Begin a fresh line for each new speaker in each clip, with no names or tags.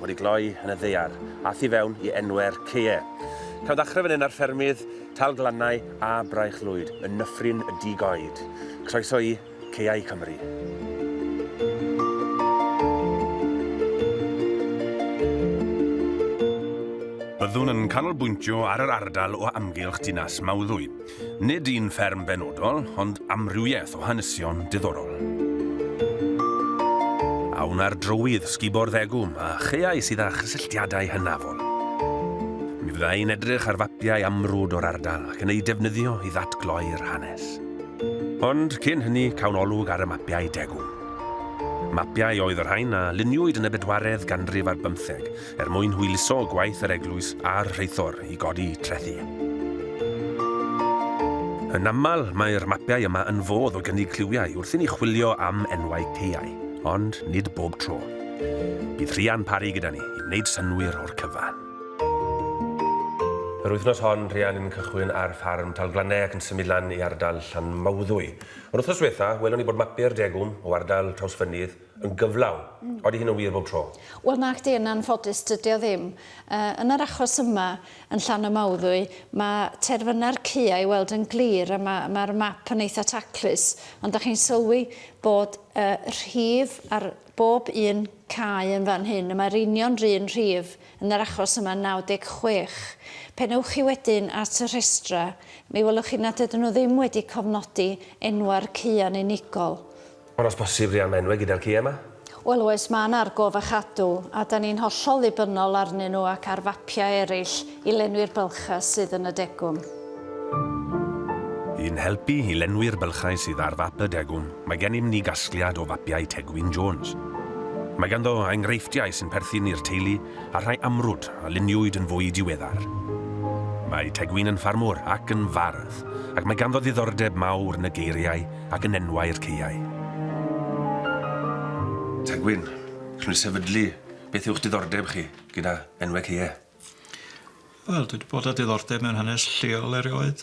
wedi gloi yn y ddaear a thu fewn i enwau'r caeau. Cawn ddechrau fan hyn ar ffermydd Tal Glannau a Braich Lwyd yn Nyffryn y Dug Oed. Croeso i Caeau Cymru. Byddwn yn canolbwyntio ar yr ardal o amgylch dinas Mawddwy. Nid un fferm benodol, ond amrywiaeth o hanesion diddorol. A wna'r drywydd sgubo'r ddegwm a chaeau sydd â chysylltiadau hynafol? Mi fydda i'n edrych ar fapiau amrwd o'r ardal ac yn eu defnyddio i ddatgloi'r hanes. Ond cyn hynny, cawn olwg ar y mapiau degwm. Mapiau oedd y rhain a luniwyd yn y bedwaredd ganrif ar bymtheg, er mwyn hwyluso gwaith yr eglwys a'r rheithor i godi trethi. Yn aml, mae'r mapiau yma yn fodd o gynnig cliwiau wrth i ni chwilio am enwau caeau, ond nid bob tro. Bydd Rhian Parry gyda ni i wneud synwyr o'r cyfan. Yr wythnos hon, Rhian yn cychwyn ar ffarm Talglannau ac yn symud lan i ardal Llanmawddwy. Yr wythnos diwetha, welwn ni bod mapiau'r Degwm o ardal Trawsfynydd yn gyflawn. Odi hyn yn wir bob tro? Wel nacdi, yn anffodus
dydi o ddim. Yn yr achos yma, yn Llan y Mawddwy, mae terfynau'r caeau i weld yn glir a mae mae'r map yn eitha taclus, ond da chi'n sylwi bod y rhif ar bob un cae yn fan hyn, y mae'r union run rhif yn yr achos yma 96. Pen ewch chi wedyn at y rhestra, mi welwch chi nad ydyn nhw ddim wedi cofnodi enwau'r caeau'n unigol. Ond os
posib rhian menwe gyda'r ci ema. Wel oes, mae yna
argof a chadw, a da ni'n hollol ddibynnol arnyn nhw ac ar fapiau eraill i lenwi'r bylchau sydd yn y degwm.
Yn helpu i lenwi'r bylchau sydd ar fap y degwm, mae gennym ni gasgliad o fapiau Tegwyn Jones. Mae ganddo enghreifftiau sy'n perthyn i'r teulu a rhai amrwd a luniwyd yn fwy diweddar. Mae Tegwyn yn ffarmwr ac yn fardd, ac mae ganddo ddiddordeb mawr yn y geiriau ac yn enwau'r caeau. Tegwyn, rwy'n sefydlu, beth yw'ch diddordeb chi gyda enwau caeau?
Wel, dwi wedi bod â diddordeb mewn hanes lleol erioed.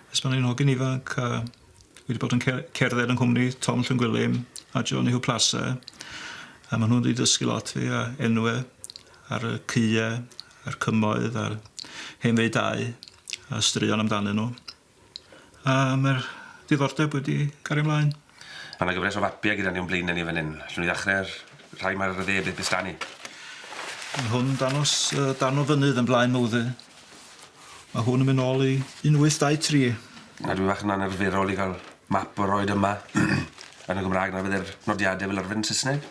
Ers pan o'n i'n hogyn ifanc, a dwi wedi bod yn cerdded yng nghwmni Tom Llwngwilym a Johnny Huw Plasse, a maen nhw wedi dysgu lot fi a enwau ar y caeau a'r cymoedd a'r hen faedau a straeon amdanyn nhw. A mae'r diddordeb wedi cario mlaen. Ma' 'na gyfres o
fapiau gyda ni o'n blaenau ni fan hyn. Allwn ni ddechrau'r rhai mae'r dde beth is 'da ni. Ma'
hwn dangos yy darn o fynydd yn Blaen Mowddwy. Ma' hwn yn mynd nôl i un wyth dau tri. A dwi fach yn
anarferol i ga'l map o roid yma yn y Gymrâg na fydde'r nodiade fel arfer yn Sysneg.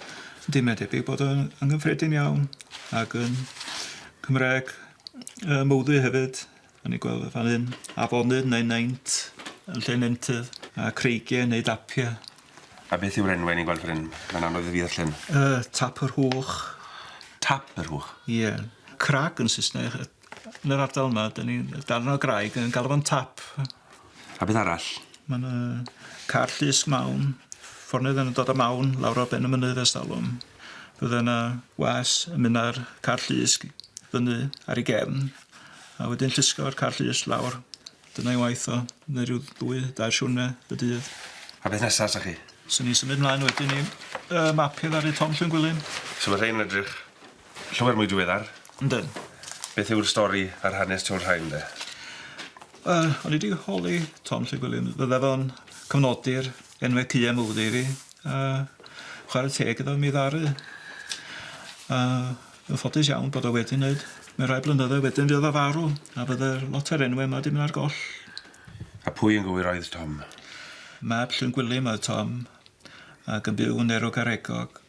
Yndi mae debyg
bod o yn yn gyffredin iawn ag yn Cymraeg yy Mowddwy hefyd. A ni'n gweld fan hyn afonydd neu naint yn lle nentydd a creigiau neu dapiau. A beth yw'r
enwau ni'n gweld fan hyn? Mae'n anodd i fi ddarllen. Yy Tap yr
Hwch. Tap
yr Hwch? Ie. Crag
yn Saesneg. Yn yr ardal yma, 'dan ni'n darn o graig yn galw fo'n tap. A beth
arall? Ma' 'na
car llys mawn, fforneddyn yn dod â mawn lawr ar ben y mynydd ers talwm. Fydde 'na was yn myn' â'r car llys g- fyny ar ei gefn a wedyn llusgo'r car llys lawr. Dyna'i waith o. Neu ryw ddwy dair siwrne y dydd. A beth nesa sa
chi? Sa ni'n symud mlaen
wedyn i yy mapio ddaru Tom Llwyn Gwilym. Su' ma' rhein yn edrych?
Llawer mwy diweddar. Yndyn.
Beth yw'r
stori a'r hanes tu ol rhain de? Wel,
o'n i 'di holi Tom Llŷr Gwilliams, bydde fo'n cofnodi'r enwe cua mowddy i fi, a chware teg iddo mi ddaru. A yn ffodus iawn bod o wedi wneud. Mewn rhai blynyddoedd wedyn fuodd o farw, a bydde'r lot o'r enwe yma 'di mynd ar goll. A pwy yn
gywir oedd
Tom? Mab Llŷr
Gwilym oedd
Tom, ac yn byw yn Nerwgaregog.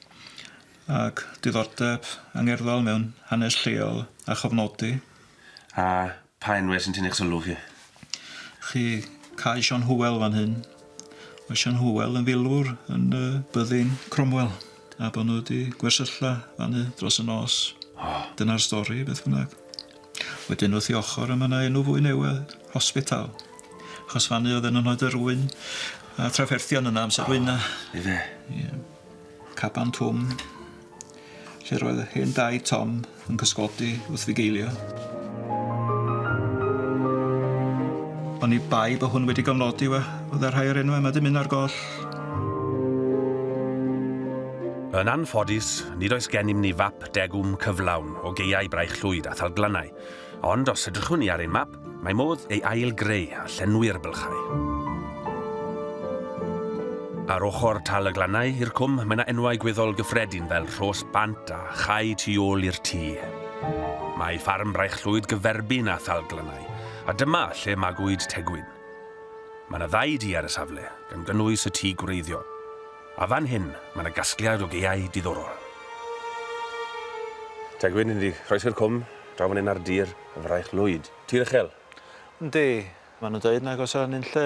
Ag diddordeb angerddol mewn hanes lleol a chofnodi. A
pha enwau sy'n tynnu'ch sylw chi? Chi
cau Siôn Hywel fan hyn. Mae Siôn Hywel yn filwr yn y byddin Cromwell a bod nhw wedi gwersylla fan'y dros y nos. O! Dyna'r stori, beth bynnag. Wedyn wrth ei ochr y mae yna enw fwy newydd, Hospital. Achos fan'y oedd yn anhoed yr ŵyn a trafferthion yna amser ŵyna. Ife? Ie. Caban Twm, lle'r oedd yr hen daid Tom yn cysgodi wrth fugeilio. Oni bai bo hwn wedi gofnodi we, fydda rhai o'r enwau yma dymun ar goll.
Yn anffodus, nid oes gennym ni fap degwm cyflawn o geiau Braich Llwyd a Thalglannau, ond os edrychwn ni ar ein map, Mae modd ei ail-greu a llenwi ar y bylchau. Ar ochr Tal y Glannau, i'r cwm, mae yna enwau gweddol gyffredin fel Rhos Bant a Chau tu ôl i'r tŷ. Mae ffarm Braich Llwyd gyferbyn â Thal Glannau, a dyma lle magwyd Tegwyn. Mae yna ddau dŷ ar y safle, gan gynnwys y tŷ gwreiddiol. A fan hyn, mae yna gasgliad o gaeau diddorol. Tegwyn, yn dy groes i'r cwm, draw fan hyn ar dir. Fraich Lwyd. Tir uchel. Yndi.
Maen nhw'n dweud nag oes 'na nunlle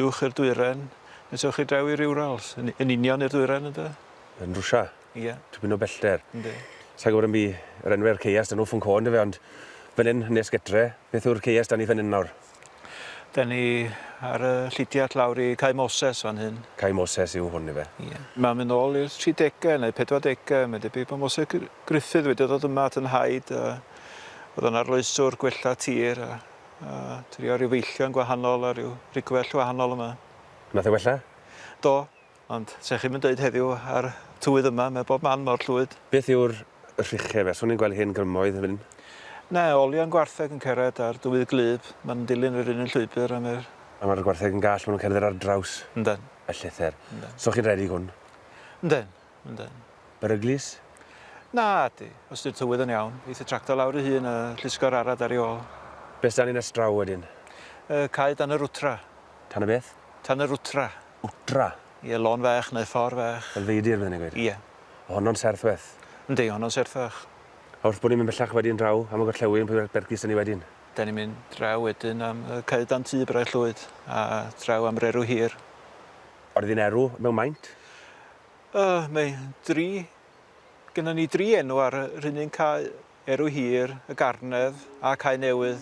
uwch i'r dwyrain, nes ewch chi draw i'r Urals, yn yn union i'r dwyrain ynde? Yn Rwsia.
Ie. Tipyn o bellter. Yndi. Sa i'n gwybod
am bu
yr enwe'r ceiast yn Ufenko yndyfe ond fan hyn, nes getre, beth yw'r ceiast dan ni fan hyn nawr? Dyn ni
ar y llidiart lawr i Cae Moses fan hyn. Cae Moses yw hwn
ife? Ie. Mae'n mynd nôl
i'r 30au neu 40au, mae'n debyg bod Moses Griffith wedi dod yma at y nhaid a oedd yn arloeswr gwella tir a, a trio rhyw feillion gwahanol a rhyw rigwell wahanol yma. Nath e wella?
Do.
Ond 'sa chi'm yn deud heddiw ar tywydd yma, mae bob man mor llwyd. Beth yw'r
rhiche fe? Swn i'n gweld hen grymoedd yn fyn. Na, olion
gwartheg yn cered ar dywydd gwlyb, ma' nhw'n dilyn yr un un llwybr a mae'r. A ma'r gwartheg yn gall,
ma' nhw'n cerdded ar draws. Yndan. Y llethr.
Yndan.
So chi'n redig hwn? Yndan,
yndan. Beryglus?
Na,
di. Os di'r tywydd yn iawn, eith y tractor lawr ei hun a llusgo'r arad ar ei ôl. Be' s'dan ni nes
draw wedyn? Y cae dan
yr wtra. Tan y beth?
Tan yr wtra.
Wtra.
Ie, lôn fach
neu ffordd fach. Fel feidir, byddwn i'n gweud. Ie.
O honno'n
serthweth.
Yndi, honno'n
serthach. A wrth bod ni'n mynd
bellach wedyn draw am y gorllewin, pwy ar Bergys 'da ni wedyn? Da ni'n mynd draw
wedyn am y cae dan tŷ Braich Llwyd, a draw am yr erw hir. Yr un
erw mewn maint? Yy,
mae dri... Gynnon ni dri enw ar yr un un cae. Erw Hir, y Garnedd a Cae Newydd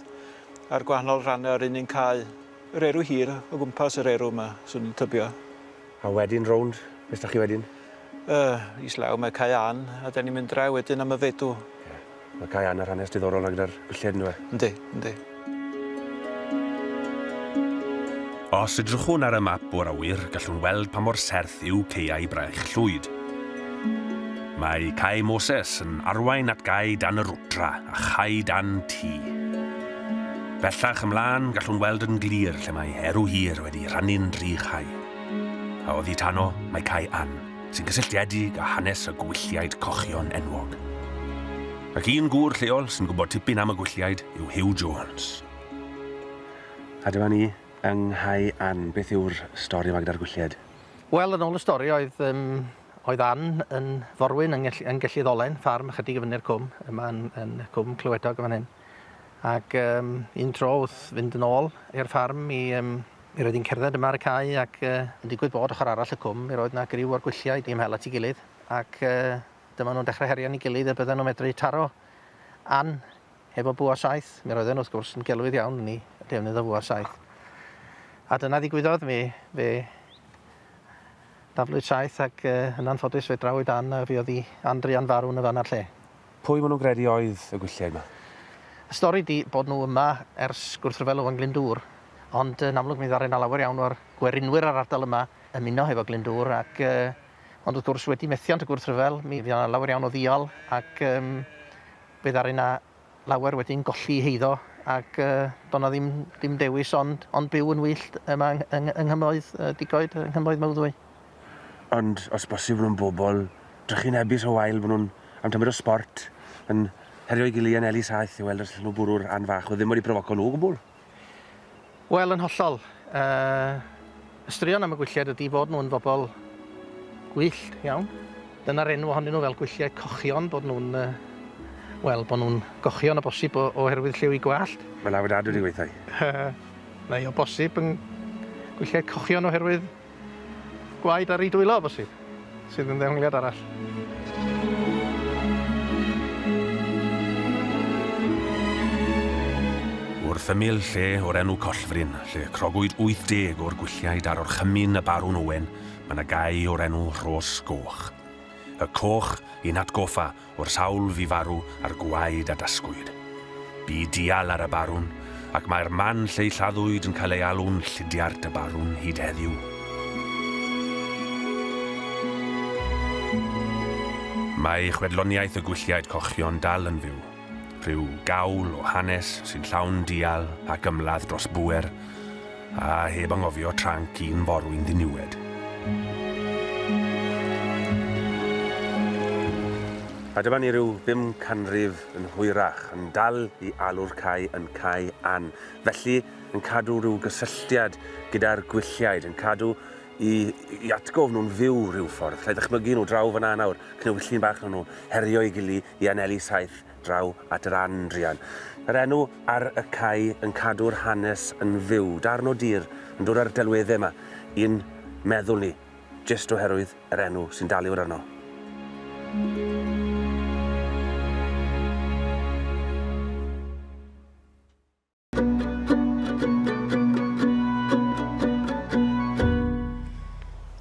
a'r gwahanol rannau o'r un un cae. Yr Erw Hir o gwmpas yr erw yma, swn i'n tybio. A wedyn
rownd, be sda chi wedyn? Yy, is
law mae Cae Ann a da ni'n mynd draw wedyn am y Feddw. Ie. Mae Cae
Ann ar hanes diddorol 'na gyda'r gwllied yndyw e? Yndi, yndi. Os edrychwn ar y map o'r awyr, gallwn weld pa mor serth yw caeau braich Llwyd. Mae Cae Moses yn arwain at gae dan y Rwdra a chae dan Tŷ. Bellach ymlaen, gallwn weld yn glir lle mae Erw Hir wedi rhannu'n dri chae. A oddi tano, mae Cae Ann, sy'n cysylltiedig â hanes y gwylliaid cochion enwog. Ac un gŵr lleol sy'n gwybod tipyn am y gwylliaid yw Huw Jones. A dyma ni yng Nghau Ann. Beth yw'r stori yma gyda'r gwylliaid? Wel, yn ôl y stori
oedd yym oedd Ann yn forwyn yng ngell- yng Gelli Ddolen, ffarm ychydig i fyny'r cwm, yma yn yn Cwm Clywedog yn fan hyn. Ac yym un tro wrth fynd yn ôl i'r ffarm mi yym mi roedd hi'n cerdded yma ar y cae ac yy yn digwydd bod ochr arall y cwm mi roedd 'na griw o'r gwylliaid i ymhel at ei gilydd ac yy Dyma nhw'n dechrau herio yn ei gilydd y bydden nhw'n medru taro Ann efo bwa saeth. Mi roedden nhw, wrth gwrs, yn gelwydd iawn yn ei defnydd o fwa saeth. A dyna ddigwyddodd mi, fe daflwyd saeth ac uh, yn anffodus fe drawyd Ann a fuodd i Ann Drian farw yn y fan a'r lle. Pwy maen nhw'n gredu
oedd y gwylliaid yma? Y stori di
bod nhw yma ers gwrthryfel Owen Glyndŵr, ond yn amlwg mi ddaru na lawer iawn o'r gwerinwyr ar ardal yma ymuno hefo Glyndŵr ac uh, Ond wrth gwrs, wedi methiant y gwrthryfel, mi fuodd 'na lawer iawn o ddial ac um, fe ddaru 'na lawer wedyn golli heiddo ac uh, doedd 'na ddim, ddim dewis ond, ond byw yn wyllt yma yng, yng, yng Nghymroedd uh, Digoed, yng Nghymroedd Mawddwy. Ond
os bosibl yn bobl drychinebus o wael, maen nhw'n am tymor o sport yn herio'i gili yn Eli Saith i weld os allan nhw bwrw'r rhan fach o ddim wedi profoco nhw o gwbl.
Wel, yn hollol. Y straeon am y Gwylliaid ydi fod nhw'n fobl gwyllt iawn. Dyna'r enw ohonyn nhw fel Gwylliaid Cochion, bod nhw'n yy wel, bod nhw'n gochion o bosib o- oherwydd lliw eu gwallt. Mae 'na afiadad wedi gweithio
i. Yy neu o
bosib yn Gwylliaid Cochion oherwydd Gwaed ar ei dwylo o bosib, sydd yn ddehongliad arall.
Wrth ymyl lle o'r enw Collfryn, lle crogwyd 80 o'r gwylliaid ar orchymyn y Barwn Owen, mae yna gae o'r enw Rhos Goch. Y coch, i'n hatgoffa, o'r sawl fu farw a'r gwaed a dasgwyd. Bu dial ar y Barwn, ac mae'r man lle ei lladdwyd yn cael ei alw'n Llidiart y Barwn hyd heddiw. Mae chwedloniaeth y Gwylliaid Cochion dal yn fyw, rhyw gawl o hanes sy'n llawn dial ac ymladd dros bŵer, A heb anghofio tranc un forwyn ddiniwed. A dyma ni ryw bum canrif yn hwyrach, yn dal i alw'r cae yn Cae Ann. Felly, yn cadw rhyw gysylltiad gyda'r gwylliaid, yn cadw i, i atgof nhw'n fyw rhyw ffordd. Lle ddychmygu nhw draw fyna nawr, cnewyllyn bach nhw, herio i gili i anelu saeth draw at yr Andrian. Yr enw ar y cae yn cadw'r hanes yn fyw. Darn o dir yn dod â'r delweddau yma i'n meddwl ni, jyst oherwydd yr enw sy'n daliwr arno.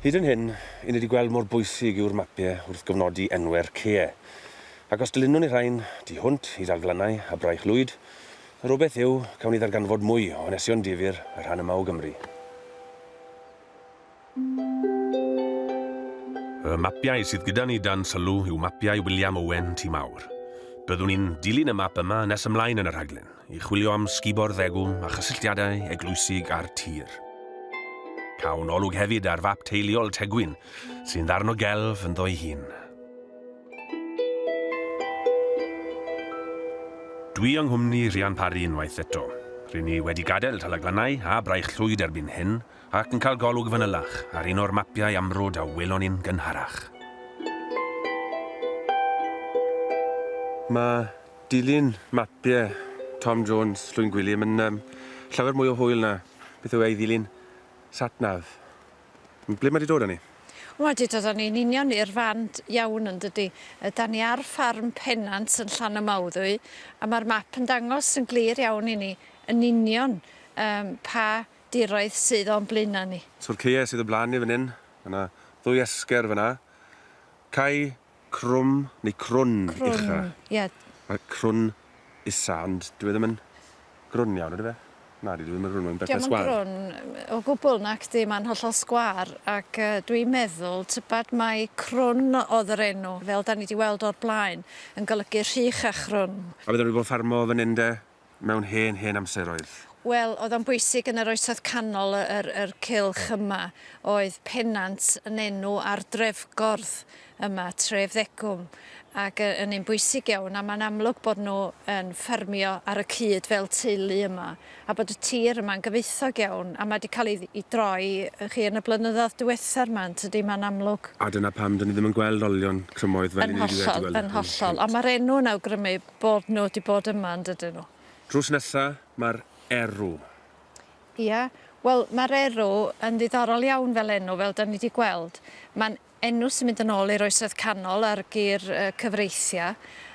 Hyd yn hyn, i ni wedi gweld mor bwysig yw'r mapiau wrth gofnodi enwau'r caeau. Ac os dylunwn ni rhain, tu hwnt i Dalglannau a Braich Lwyd, yr obaith yw, cawn ni ddarganfod mwy o hanesion difyr y rhan yma o Gymru. Y mapiau sydd gyda ni dan sylw yw mapiau William Owen Tŷ Mawr. Byddwn ni'n dilyn y map yma nes ymlaen yn y rhaglen, i chwilio am sgubo'r ddegw a chysylltiadau eglwysig â'r tir. Cawn olwg hefyd ar fap teuluol Tegwyn, sy'n ddarno gelf ynddo'i hun. Dwi yng nghwmni Rhian Parry unwaith eto. Rŷn ni wedi gadael Talaglannau a Braich Llwyd erbyn hyn, ac yn cael golwg fanylach ar un o'r mapiau amrwd a welon ni'n gynharach. Mae dilyn mapiau Tom Jones, Llwyn Gwilym, yn um, llawer mwy o hwyl na beth yw ei ddilyn satnav. Ble mae wedi dod â ni? Wel, dwi dod â
ni'n union i'r fan iawn yn dydy. Da ni ar ffarm Pennant yn Llan y Mawddwy, a mae'r map yn dangos yn glir iawn i ni yn union um, pa diroedd sydd o'n blaena ni. Tŷ'r caeau sydd o blaen ni fan hyn, mae yna ddwy esger fan'na. Cae crwm neu crwn ucha. Crwn, ie. Mae crwn
isa, ond dyw e ddim yn grwn iawn, ydyw e? Nadi, dyw e ddim yn grwn, mae'n bethau sgwâr. Dio'm yn grwn o
gwbl, nacdi, mae'n hollol sgwâr, ac dwi'n meddwl tybed mai crwn oedd yr enw, fel 'dan ni 'di weld o'r blaen, yn golygu rhych a chrwn. A bydden nhw 'di bod yn ffarmo
fan hyn de, mewn hen, hen amseroedd. Wel, oedd o'n
bwysig yn yr Oesoedd Canol, yr, yr cylch yma. Oedd Pennant yn enw ar drefgordd yma, tref Ddegwm, ac y- yn un bwysig iawn, a mae'n amlwg bod nhw yn ffermio ar y cyd fel teulu yma, a bod y tir yma'n gyfoethog iawn, a mae 'di cael ei, ei droi, y'chi, yn y blynyddoedd diwethaf 'ma, yn tydi, mae'n amlwg. A dyna pam 'dan ni ddim
yn gweld olion crymoedd fel Yn 'yn ni wedi gweld hollol, yn hollol. Ond mae'r
enw yn awgrymu Bod nhw 'di bod yma yn dydyn nhw? Drws nesa
ma'r erw. Ia,
wel ma'r erw yn ddiddorol iawn fel enw, fel 'dan ni 'di gweld. Ma'n enw sy'n mynd yn ôl i'r Oesoedd Canol a'r gur cyfreithia,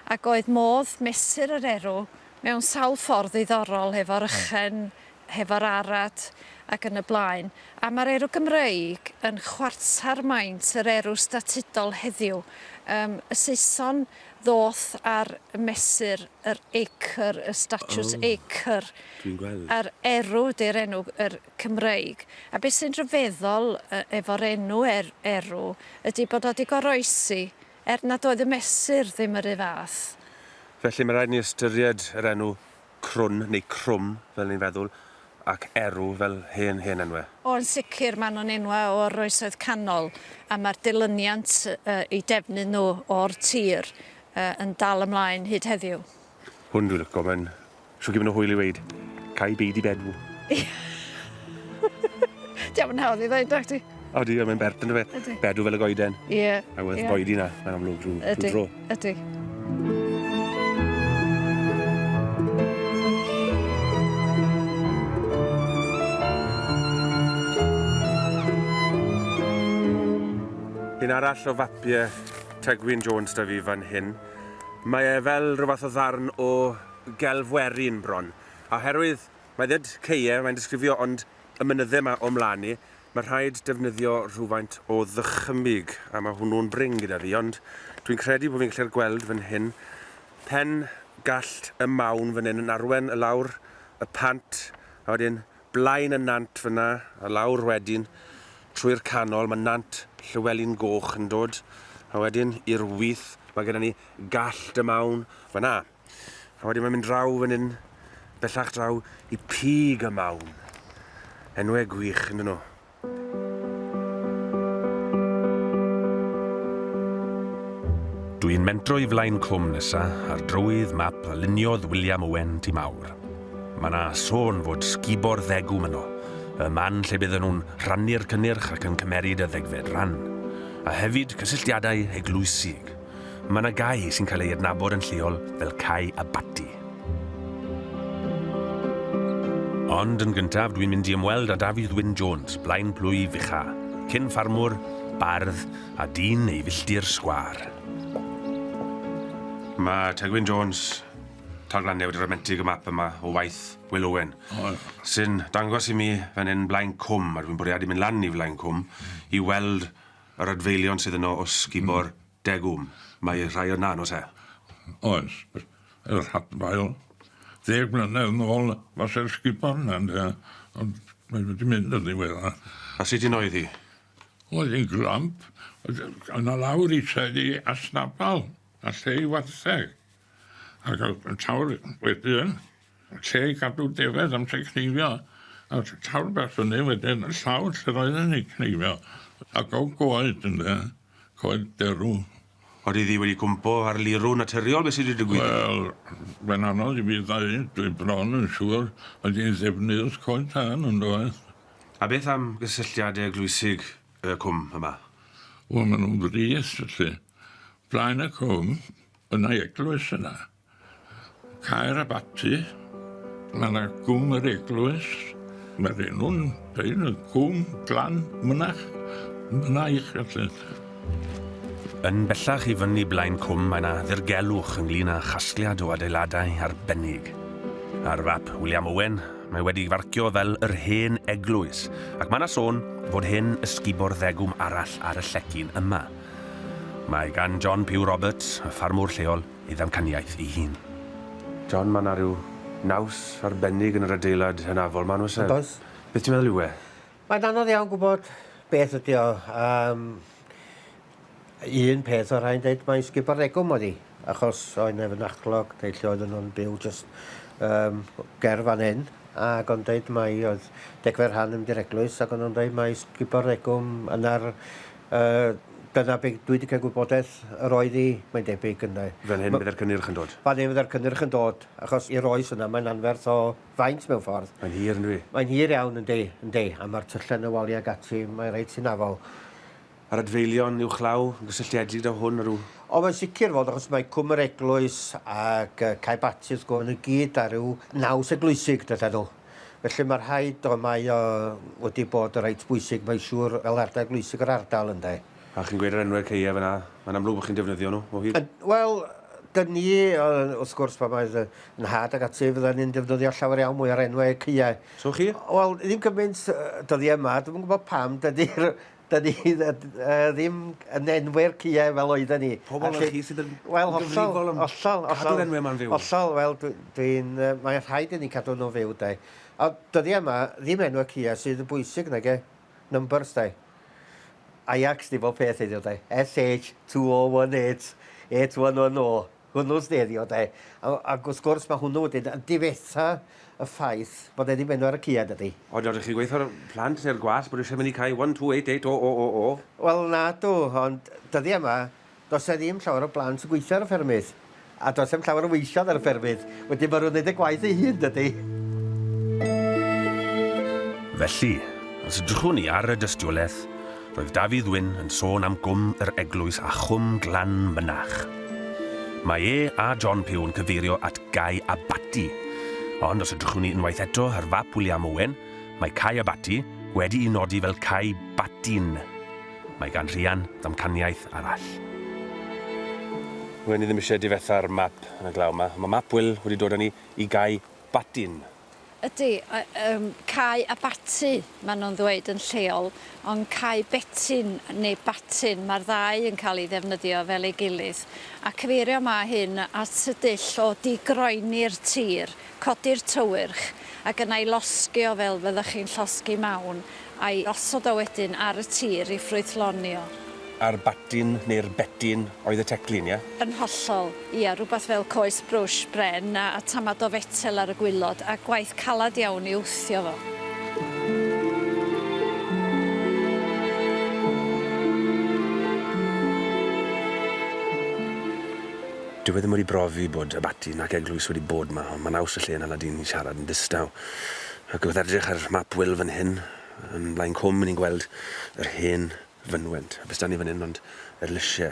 ac oedd modd mesur yr erw mewn sawl ffordd ddiddorol, hefo'r ychen, hefo'r arad, ac yn y blaen. A ma'r erw Gymreig yn chwarter maint yr erw statudol heddiw. Yym, y Saeson ddoth ar mesur yr acre, y statws acre. O, dwi'n gweld. A'r
erw,
di'r enw er, Cymreig. A beth sy'n rhyfeddol efo'r enw er, erw ydy bod o 'di goroesi er nad oedd y mesur ddim yr un fath. Felly, mae rhaid
ni ystyried yr enw crwn neu crwm fel ni'n feddwl, ac erw fel hen, hen enwe. O, yn sicr, maen
nhw'n enwau o'r Oesoedd Canol, a mae'r dilyniant eu defnydd nhw o'r tir yn dal ymlaen hyd heddiw. Hwn dwi'n licio,
mae'n siŵr gymryd hwyl i weud, Cau beidi
bedw. Dio'm yn hawdd i ddeud,
nacdi?
O
di, mae'n bert yn y fe. Ydy. Bedw fel y goeden.
Ie.
Yeah. I was yeah. boedy
na,
mae'n amlwg drwy, drwy dro. Ydy,
ydy.
Un arall o fapiau Tegwyn Jones da fi fan hyn. Mae e fel rhywbeth o ddarn o gelfwerin bron. A herwydd, mae dded ceie, mae'n disgrifio, ond y mynydde yma o'm mlan i, mae rhaid defnyddio rhywfaint o ddychymyg, a mae hwnnw'n brin gyda fi, ond dwi'n credu bod fi'n gallu'r gweld fan hyn, pen gallt y mawn fan hyn yn arwen y lawr y pant, a wedyn blaen y nant fyna, a lawr wedyn trwy'r canol, mae nant Llywelyn Goch yn dod, a wedyn i'r wyth, mae gyda ni gallt y mawn fan'na. A wedyn mae'n mynd draw fan hyn, bellach draw i Pig y Mawn. Enwau gwych, yn dyn nhw. Dw i'n mentro i flaen clwm nesa ar drywydd map a luniodd William Owen ti mawr. Mae na sôn fod sgubo'r ddegw myno, y man lle bydden nhw'n rhannu'r cynnyrch ac yn cymeryd y ddegfed ran, a hefyd cysylltiadau eglwysig. Mae yna gae sy'n cael ei adnabod yn lleol fel Cae Abaty. Ond yn gyntaf dwi'n mynd i ymweld â Dafydd Wyn Jones, Blaen Plwy Fucha, cyn ffarmwr, bardd a dyn ei filltir sgwâr. Mae Tegwyn Jones, Talglanne wedi ramentug y map yma o waith Wil Owen, sy'n dangos i mi fan hyn Blaen Cwm, a dwi'n bwriadu mynd lan i Flaen Cwm i weld Yr adfeilion sydd yno o sgubo'r degwm, mae rhai yna, yn oes e? Oes,
yr hadfail. Ddeg mlynedd yn ôl fase'r sgubo yna ynde, ond mae wedi mynd yn ddiweddar. A sut un oedd
hi? Oedd hi'n
glamp, oedd yna lawr i tŷ i Asnabal, a lle i wartheg. A ga'l y tawr wedyn lle i gadw defaid amser cneifio a tawr bach fyny wedyn y llawr lle roedden ni'n cneifio a ga'l goed ynde coed derw. Odi ddi wedi
cwmpo ar lirw naturiol be sy di digwydd? Wel mae'n
anodd i fi ddeud dwi bron yn siŵr mae di'n ddefnydd coed tân yndoedd? A beth am
gysylltiade eglwysig y cwm yma? Wel ma' nhw'n
frith felly. Blaen y cwm. Yn ei eglwys yna, Caer Abaty, mae 'na gwm yr eglwys, mae'r enw'n deud y cwm glan mynach, myna eich gallant.
Yn bellach i fyny Blaen Cwm mae 'na ddirgelwch ynglŷn â chasgliad o adeiladau arbennig. Ar fap William Owen mae wedi farcio fel yr hen eglwys ac mae 'na sôn fod hen ysgubor ddegwm arall ar y llecyn yma. Mae gan John Pugh Roberts, y ffarmwr lleol, ei ddamcaniaeth ei hun. John, mae 'na ryw naws arbennig yn yr adeilad hynafol 'ma, yn oes e? Oes. Beth ti'n meddwl yw
e?
Mae'n anodd iawn
gwybod beth ydy o. Yym, un peth o' rhai'n deud mai sgubordegwm oedd hi, achos oedd 'na fynachlog neu lle oedden nhw'n byw jyst yym ger fan hyn, ac o'n deud mai oedd degfed rhan yn mynd i'r eglwys, ac o'n nhw'n deud mai sgubordegwm yna'r Yy, dyna be dwi 'di cael gwybodaeth yr oedd hi, mae'n debyg, ynde. Fel hyn fydde'r cynnyrch yn
dod? Fan hyn fydde'r cynnyrch yn
dod, achos i'r oes yna mae'n anferth o faint mewn ffordd. Mae'n hir yndyw hi? Mae'n
hir iawn, yndi,
yndi, a ma'r tyllen y waliau ag ati, mae reit hunafol. A'r
adfeilion uwchlaw yn gysylltiedig 'da hwn, a rhyw? O, mae'n sicr fod,
achos mae Cwm yr Eglwys ac yy Cae Batys, go- ma' nhw i gyd â rhyw naws eglwysig, dydan nhw. Felly ma' rhaid o mae o wedi bod reit bwysig mae'n siŵr fel ardal eglwysig yr ardal ynde? A chi'n gweud yr enwau
ceue fan'na, mae'n amlwg bod chi'n defnyddio nhw o hyd? Wel, dyn
ni wrth gwrs pan mae fy nhad ac ati fyddan ni'n defnyddio llawer iawn mwy o'r enwau ceue. So chi? Wel,
ddim cymaint
dyddiau yma, dwi'm yn gwybod pam, dydi'r 'dyn ni yy ddim yn enwi'r cïe fel oedden ni. Pobol fel chi sydd yn
Wel hollol. ...gyfrifol am...
Hollol hollol. ...cadw'r enwe 'ma'n fyw.
Hollol wel dwi
dwi'n yy mae rhaid i ni cadw nw'n fyw 'de. A dyddie 'ma ddim enwe cïe sydd yn bwysig nage? Numbers 'de? Ajax 'di bob peth heddiw 'de? SH two oh one eight eight one one oh. hwnnw sy'n herio de. A- ac wrth gwrs mae hwnnw wedyn yn difetha y ffaith bod e ddim enw ar y cua dydi? O nawr dych chi'n gweithio'r
plant neu'r gwallt bod eisiau mynd i cau one two eight eight o o o o? Wel nadw
ond dyddiau yma does e ddim llawer o blant yn gweithio ar y ffermydd a does dim llawer o weithiodd ar y ffermydd wedyn mae nhw'n gwneud y gwaith ei hun dydi?
Felly, os edrychwn ni ar y dystiolaeth, Roedd Dafydd Wyn yn sôn am Gwm yr Eglwys a Chwm Glan Mynach. Mae e a John Pugh yn cyfeirio at Gae Abaty, ond os edrychwn ni unwaith eto ar fap William Owen, mae Cae Abaty wedi'i nodi fel Cae Batyn. Mae gan Rhian ddamcaniaeth arall. Wen i ddim eisiau difetha'r map yn y glaw 'ma, ond mae map Wil wedi dod â ni i Gae Batyn. Ydy,
yym, cau abaty, maen nhw'n ddweud yn lleol, ond cau betyn neu batyn, mae'r ddau yn cael ei ddefnyddio fel ei gilydd. A cyfeirio mae hyn at y dull o di-groeni'r tir, codi'r tywyrch, ac yna'i losgi o fel fyddech chi'n llosgi mawn, A'i osod o wedyn ar y tir i ffrwythlonio. A'r batyn,
neu'r betyn, oedd y teclyn, ie? Yn hollol,
ia, rhywbeth fel coes brwsh bren a tamad o fetel ar y gwaelod, a gwaith caled iawn i wthio fo.
Dyw e ddim wedi brofi bod y batyn ac eglwys wedi bod 'ma, ond mae'n haws y lle yna na dyn yn siarad yn ddistaw. Ac wrth edrych ar map Wil fan hyn, yn Blaen Cwm, ni'n gweld yr hen fynwent. Be sdan ni fan hyn ond yr lysie,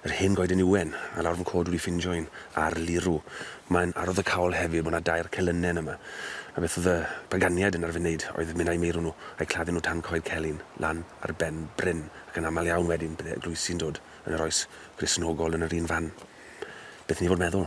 yr hen goeden ywen, a lawr fy cod wedi ffindio un ar lirw. Mae'n arwyddocaol hefyd bod 'na dair celynnen yma, a beth oedd y paganiaid yn arfer wneud oedd mynd â'u meirw nhw a'u claddu nhw tan Coed Celyn, lan ar ben bryn, ac yn aml iawn wedyn bydde eglwysi'n dod yn yr oes Gristnogol yn yr un fan. Beth i ni fod meddwl?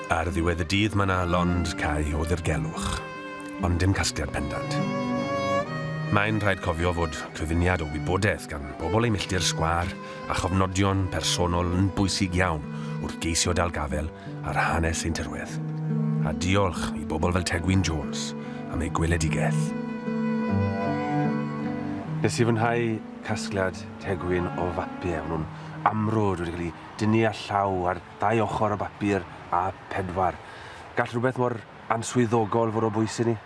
Ar ddiwedd y dydd mae 'na lond cau o ddirgelwch, ond dim casgliad pendant. Mae'n rhaid cofio fod cyfuniad o wybodaeth gan bobl ei milltir sgwâr a chofnodion personol yn bwysig iawn wrth geisio dal gafael ar hanes ein tirwedd. A diolch i bobl fel Tegwyn Jones am ei gweledigaeth. Nes i fwynhau casgliad Tegwyn o fapiau. Maen nhw'n amrwd, wedi cael eu dynnu â llaw ar dau ochr y bapur a phedwar. Gall rhywbeth mor answyddogol fod o bwys i ni?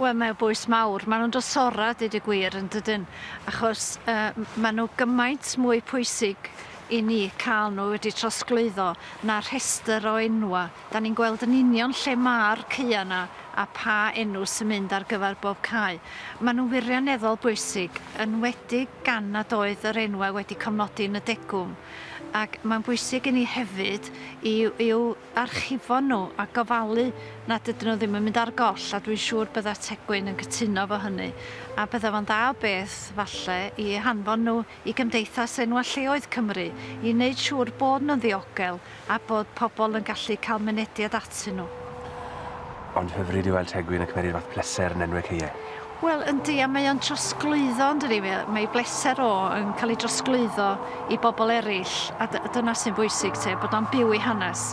Wel, mae o
bwys mawr. Maen nhw'n drysora, deud y gwir, yn dydyn? Achos yy maen nhw gymaint mwy pwysig i ni cael nhw wedi trosglwyddo na rhestr o enwa. Da ni'n gweld yn union lle ma'r caeau yna a pa enw sy'n mynd ar gyfer bob cae. Maen nhw'n wirioneddol bwysig, yn enwedig gan nad oedd yr enwau wedi cofnodi yn y degwm. ac mae'n bwysig i ni hefyd i'w i'w archifo nhw a gofalu nad ydyn nhw ddim yn mynd ar goll, a dwi'n siŵr bydda Tegwyn yn cytuno efo hynny, a bydda fo'n dda o beth, falle, i hanfon nhw i Gymdeithas Enwau Lleoedd Cymru i wneud siŵr bod nhw'n ddiogel a bod pobl yn gallu cael mynediad atyn nhw. Ond
hyfryd yw weld Tegwyn yn cymeryd fath pleser yn enwe caeau. Wel yndi, a
mae o'n trosglwyddo yndydi, mae bleser o yn cael ei drosglwyddo i bobl eraill a d- dyna sy'n bwysig te, bod o'n byw ei hanes.